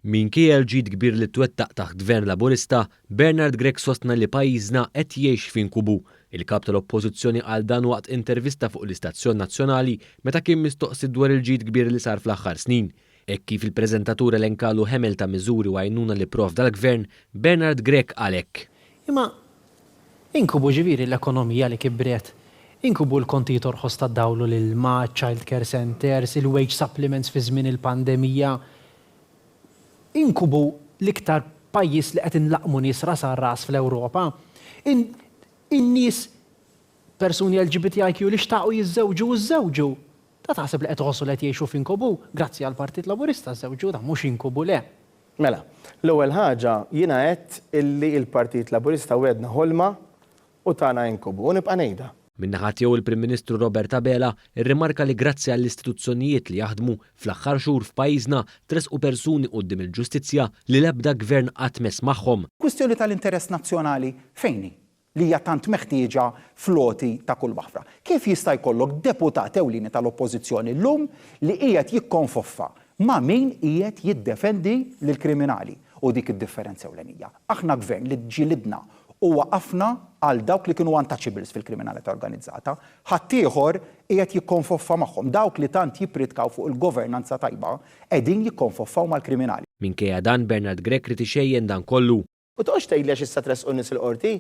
Minkejja l-ġid kbir li twettaq taħt Gvern Laburista, Bernard Grech sostna li pajjiżna qed jgħix f'inkubu. Il-Kap tal-Oppożizzjoni qal dan waqt intervista fuq l-istazzjon nazzjonali meta kien mistoqsi dwar il-ġid kbir li sar fl-aħħar snin. Hekk kif il-preżentatur elenkalu ħemel ta' miżuri u għajnuna li pprovda l-Gvern, Bernard Grech qal hekk. Imma Inkubu ġifieri l-ekonomija li kibret, inkubu l-kontijiet orħos tad-dawl u l-ilma, iċ-childcare centres, il-wage supplements fi żmien il-pandemija. Inkubu l-iktar pajjiż li qed inlaqqmu nies ras għal ras fl-Ewropa. In, in-nies, persuni LGBTIQ li xtaqu jiżżewġu u żżewġu. Ta' taħseb li qed iħossu li qed jgħixu f'inkubu? Grazzi għall-Partit Laburista żżewġu, dan mhux inkubu, le. Mela, l-ewwel ħaġa, jiena għedt illi il-Partit Laburista wegħedna ħolma u tana inkubu, u nibqa' ngħidha. Min-naħa tiegħu l-Prim Ministru Robert Abela rrimarka li grazzi għall-istituzzjonijiet li jaħdmu, fl-aħħar xhur f'pajjiżna tressqu persuni quddiem il-ġustizzja li l-ebda Gvern qatt mess magħhom. Kwistjoni tal-interess nazzjonali fejn hi? li hija tant meħtieġa fl-għoti ta' kull waħda. Kif jista' jkollok deputat ewlieni tal-Oppożizzjoni llum li qiegħed jikkonfoffa ma' min qiegħed jiddefendi lill-kriminali? Hu dik id-differenza ewlenija. Aħna Gvern li ġġilidna u waqafna għal dawk li kienu untouchables fil-kriminalità organizzata. Ħaddieħor qiegħed jikkonfoffa magħhom. Dawk li tant jippridkaw fuq il-governanza tajba qegħdin jikkonfoffaw mal-kriminali. Minkejja dan, Bernard Grech ried ixejjen dan kollu. U toqgħodx tgħidli għax issa tressqu n-nies il-Qorti.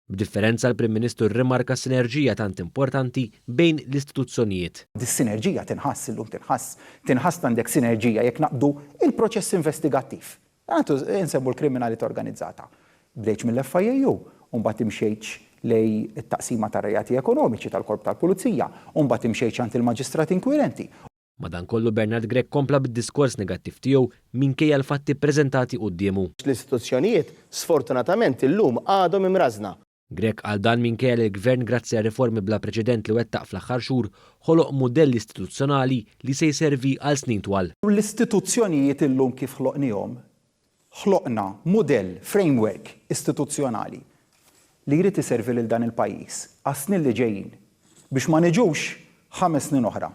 B'differenza l-Prim Ministru rrimarka s-sinerġija tant importanti bejn l-istituzzjonijiet. Dis-sinerġija tinħass illum tinħass. Tinħass li għandek sinerġija jekk naqbdu l-proċess investigattiv. Għadu nsemmu l-kriminalità organizzata. Bdejtx mill-FIAU u mbagħad imxejtx lejn it-taqsima tar-reati ekonomiċi tal-Korp tal-Pulizija u mbagħad imxejtx għand il-Maġistrat Inkwirenti. Madankollu Bernard Grech kompla bid-diskors negattiv tiegħu minkejja l-fatti ppreżentati quddiemu. L-istituzzjonijiet sfortunatament illum għadhom imrażżna. Grech qal dan minkejja li l-Gvern grazzi għal riformi bla preċedent li wettaq fl-aħħar xhur ħoloq mudell istituzzjonali li se jservi għal snin twal. L-istituzzjonijiet illum kif ħloqnihom Ħloqna mudell, framework, istituzzjonali li jrid iservi lil dan il-pajjiż għas-snin li ġejjin biex ma niġux ħames snin oħra,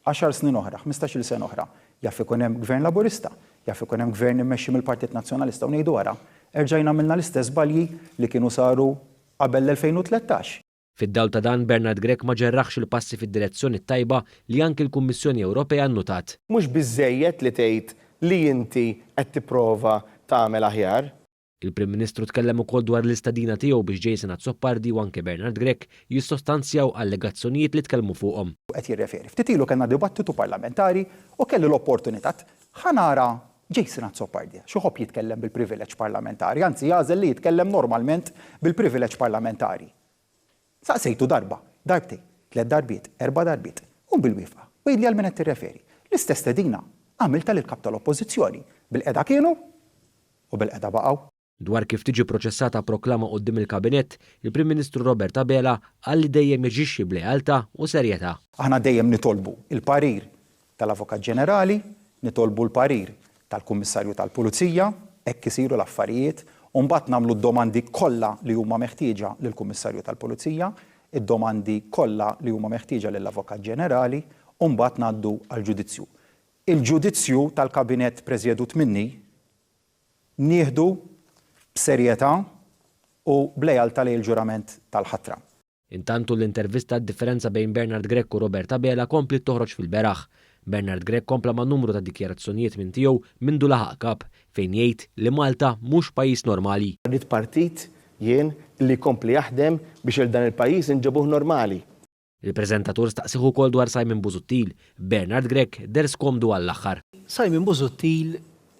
għaxar snin oħra, ħmistax-il sena oħra, jaf ikun hemm Gvern Laburista, jaf ikun hemm Gvern immexxi mill-Partit Nazzjonalista u ngħidu ara, erġajna għamilna l-istess żbalji li kienu saru qabel l-2013. Fid-dawl ta' dan, Bernard Grech ma ġerraħx il-passi fid-direzzjoni t-tajba li anki l-Kummissjoni Ewropea nnutat. Mhux biżżejjed li tgħid li inti qed tipprova tagħmel aħjar. Il-Prim Ministru tkellem ukoll dwar l-istedina tiegħu biex Jason Azzopardi u anke Bernard Grech jissostanzjaw allegazzjonijiet li tkellmu fuqhom. Qed jirreferi. Ftit ilu kellna dibattitu parlamentari u kelli l-opportunità, ħa nara Jason Azzopardia, xi jħobb jitkellem bil-privileġġ parlamentari, anzi jagħżel li jitkellem normalment bil-privileġġ parlamentari. Saqsejtu darba, darbtejn, tliet darbiet, erba' darbiet, qum bil-wieqfa, u għidli għal min qed tirreferi. L-istess stedina għamiltha lill-Kap tal-Oppożizzjoni, bil-qegħda kienu u bil-qegħda baqgħu. Dwar kif tiġi pproċessata proklama quddiem il-Kabinett, il-Prim Ministru Robert Abela qal li dejjem jaġixxi b'lealtà u serjetà. Aħna dejjem nitolbu l-parir tal-Avukat Ġenerali, nitolbu l-parir tal-Kummissarju tal-Pulizija, hekk isiru l-affarijiet, u mbagħad nagħmlu d-domandi kollha li huma meħtieġa lill-Kummissarju tal-Pulizija, id-domandi kollha li huma meħtieġa lill-Avukat Ġenerali, u mbagħad ngħaddu għall-ġudizzju. Il-ġudizzju tal-Kabinett preżjedut minni, Nieħdu b'serjetà u b'lealtà lejn il-ġurament tal-ħatra. Intantu l-intervista għad-differenza bejn Bernard Grech u Robert Abela kompliet toħroġ fil-beraħ. Bernard Grech kompla ma' numru ta' dikjarazzjonijiet minn tiegħu mindu laħaq Kap, fejn jgħid li Malta mhux pajjiż normali. Ridt partit jien li jkompli jaħdem biex 'l dan il-pajjiż inġibuh normali. Il-preżentatur staqsih ukoll dwar Simon Busuttil, Bernard Grech deher skomdu għall-aħħar. Simon Busuttil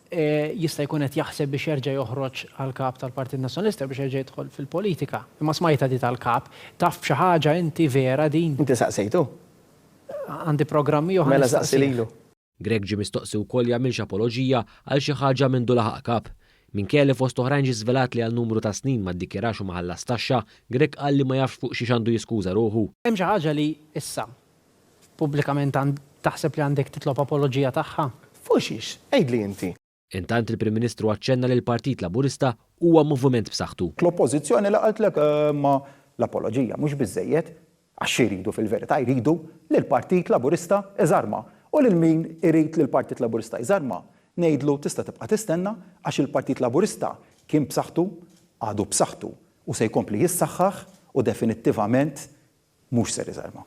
jista' jkun qed jaħseb biex jerġa' joħroġ għal Kap tal-Partit Nazzjonalista biex jerġa' jidħol fil-politika. Imma smajtha di tal-Kap. Taf b'xi ħaġa inti vera din? Inti saqsejtu? Għandi programmi oħra nistaqsih. Mela saqsi lilu. Grech ġie mistoqsi wkoll jagħmilx apoloġija għal xi ħaġa mindu laħaq Kap. Minkejja li fost oħrajn ġie żvelat li għal numru ta' snin ma ddikjarax u ma ħallas taxxa, Grech qal li ma jafx fuq xiex għandu jiskuża ruħu. Hemm xi ħaġa li issa, pubblikament taħseb li għandek titlob apoloġija tagħha? Fuq xiex? Għidli inti. Intant il-Prim Ministru aċċenna li l-Partit Laburista huwa moviment b'saħħtu. L-Oppożizzjoni li qaltlek imma l-apoloġija mhux biżżejjed għax xi jridu fil-verità jridu li l-Partit Laburista iżarma u lil min irid li l-Partit Laburista jżarma ngħidlu tista' tibqa' tistenna għax il-Partit Laburista kien b'saħħtu għadu b'saħħtu u se jkompli jissaħħaħ u definittivament mhux ser iżarma.